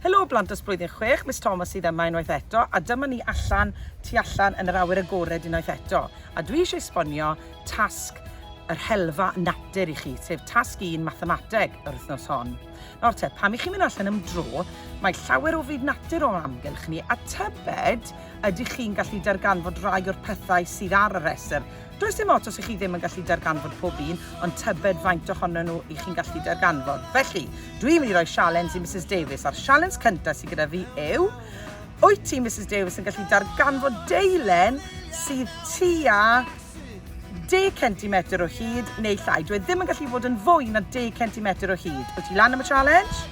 Helo blant dros blwyddyn chwech, Miss Thomas sydd yma unwaith eto a dyma ni allan, tu allan yn yr awyr agored unwaith eto a dwi eisiau esbonio tasg yr helfa natur i chi, sef tasg un mathemateg yr wythnos hon. Nawr te, pam i chi mynd allan am dro, mae llawer o fyd natur o'n amgylch ni a tybed ydych chi'n gallu darganfod rai o'r pethau sydd ar y rhestr Does dim ots os ych chi ddim yn gallu darganfod pob un, ond tybed faint ohono nhw i chi'n gallu darganfod. Felly, dwi'n mynd i roi sialens i Mrs Davies, a'r sialens cyntaf sydd gyda fi yw, wyt ti, Mrs Davies, yn gallu darganfod deilen sydd tua 10 cm o hyd neu llai. Dwi e ddim yn gallu bod yn fwy na 10 cm o hyd. Wyt ti lan am y challenge?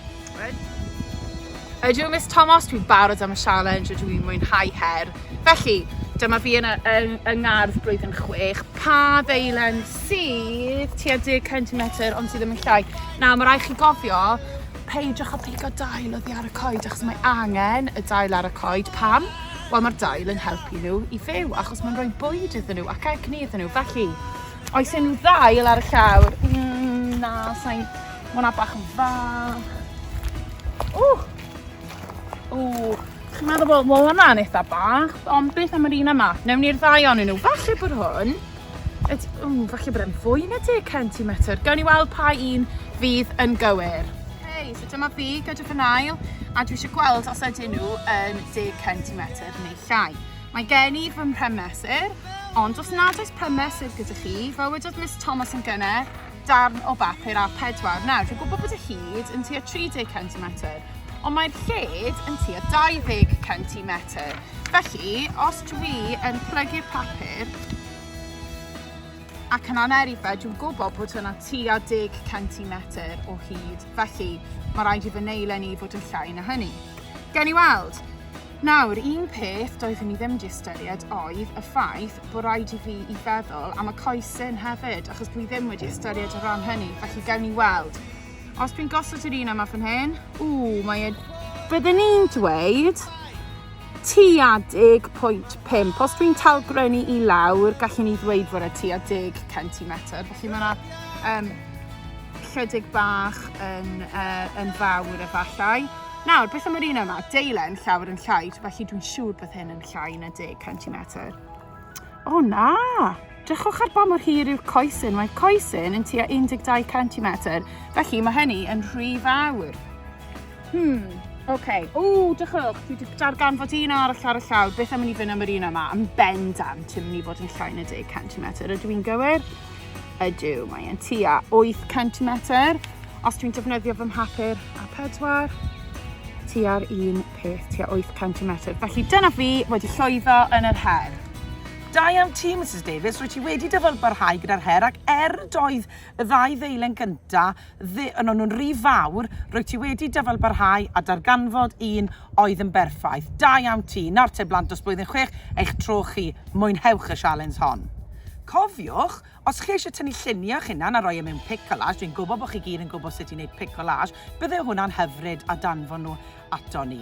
Ydw Miss Tomos, dwi'n barod am y sialens, ydw i'n mwynhau her. Felly, dyma fi yn y, yn, y ngardd blwyddyn chwech. Pa ddeilen sydd tua 10 centimetr ond sydd ddim yn llai? Na, mae rai chi gofio, peidiwch â pigo dail oddi ar y coed achos mae angen y dail ar y coed. Pam? Wel, mae'r dail yn helpu nhw i fyw achos mae'n rhoi bwyd iddyn nhw ac egni iddyn nhw. Felly, Oes unrhyw ddail ar y llawr? Mm, na, sain... Mae hwnna bach yn fach. Ww! Ww! Chi'n meddwl bod mae hwnna'n eitha bach, ond beth am yr un yma? Newn ni'r ddau o'n nhw. Falle bod hwn... Ww, falle bod e'n fwy na 10 centimetr. Gawn ni weld pa un fydd yn gywir. Hei, so dyma fi, gadwch yn ail, a dwi eisiau gweld os ydyn nhw yn 10 centimetr neu llai. Mae gen i fy mhrymesur, ond os nad oes prymesur gyda chi, fel wedodd Miss Thomas yn gyne, darn o bapur A4. Nawr, dwi'n gwybod bod y hyd yn tua 30 cm, ond mae'r lled yn tua 20 cm. Felly, os dwi yn plygu'r papur ac yn aneri fe, dwi'n gwybod bod hwnna tua 10 cm o hyd. Felly, mae rhaid i fy neilen i fod yn llai na hynny. Gen i weld. Nawr, un peth doeddwn i ddim 'di ystyried oedd y ffaith bod rhaid i fi i feddwl am y coesyn hefyd, achos dwi ddim wedi ystyried y rhan hynny, felly gewn ni weld. Os dwi'n gosod yr un yma fan hyn, ww, mae e... Byddwn i'n dweud tua 10.5. Os dwi'n talgrynnu i lawr, gallwn ni ddweud fod e tua 10 centimetr. Felly mae yna um, chydig bach yn, uh, yn fawr efallai. Nawr, beth am yr un yma? Deilen llawer yn llai, felly dwi'n siŵr bod hyn yn llai na 10 centimetr. O na! Drychwch ar ba mor hir yw'r coesyn. Mae coesyn yn tua 12 centimetr, felly mae hynny yn rhy fawr. Hmm, oce. Okay. O, drychwch, dwi wedi darganfod un arall ar y llawr. Beth am i ni fynd am yr un yma? Yn bendant, yn mynd i fod yn llai na 10 centimetr. Ydw i'n gywir? Ydw, mae e'n tua 8 centimetr. Os dwi'n defnyddio fy mhapur a pedwar, tua'r un peth, tua 8 centimetr. Felly dyna fi wedi llwyddo yn yr her. Da iawn ti, Mrs Davies, rwy ti wedi dyfalbarhau gyda'r her ac er doedd y ddau ddeilen gynta Ddu yn o'n nhw'n ry fawr, rwyt ti wedi dyfalbarhau a darganfod un oedd yn berffaith. Da iawn ti. Nawr te blant dros blwyddyn chwech, eich tro chi. Mwynhewch y sialens hon. Cofiwch, os chi eisiau tynnu lluniau o'ch hunan a roi e mewn pic collage, dwi'n gwybod bod chi gyd yn gwybod sut i wneud pic collage, bydde hwnna'n hyfryd a danfon nhw aton ni.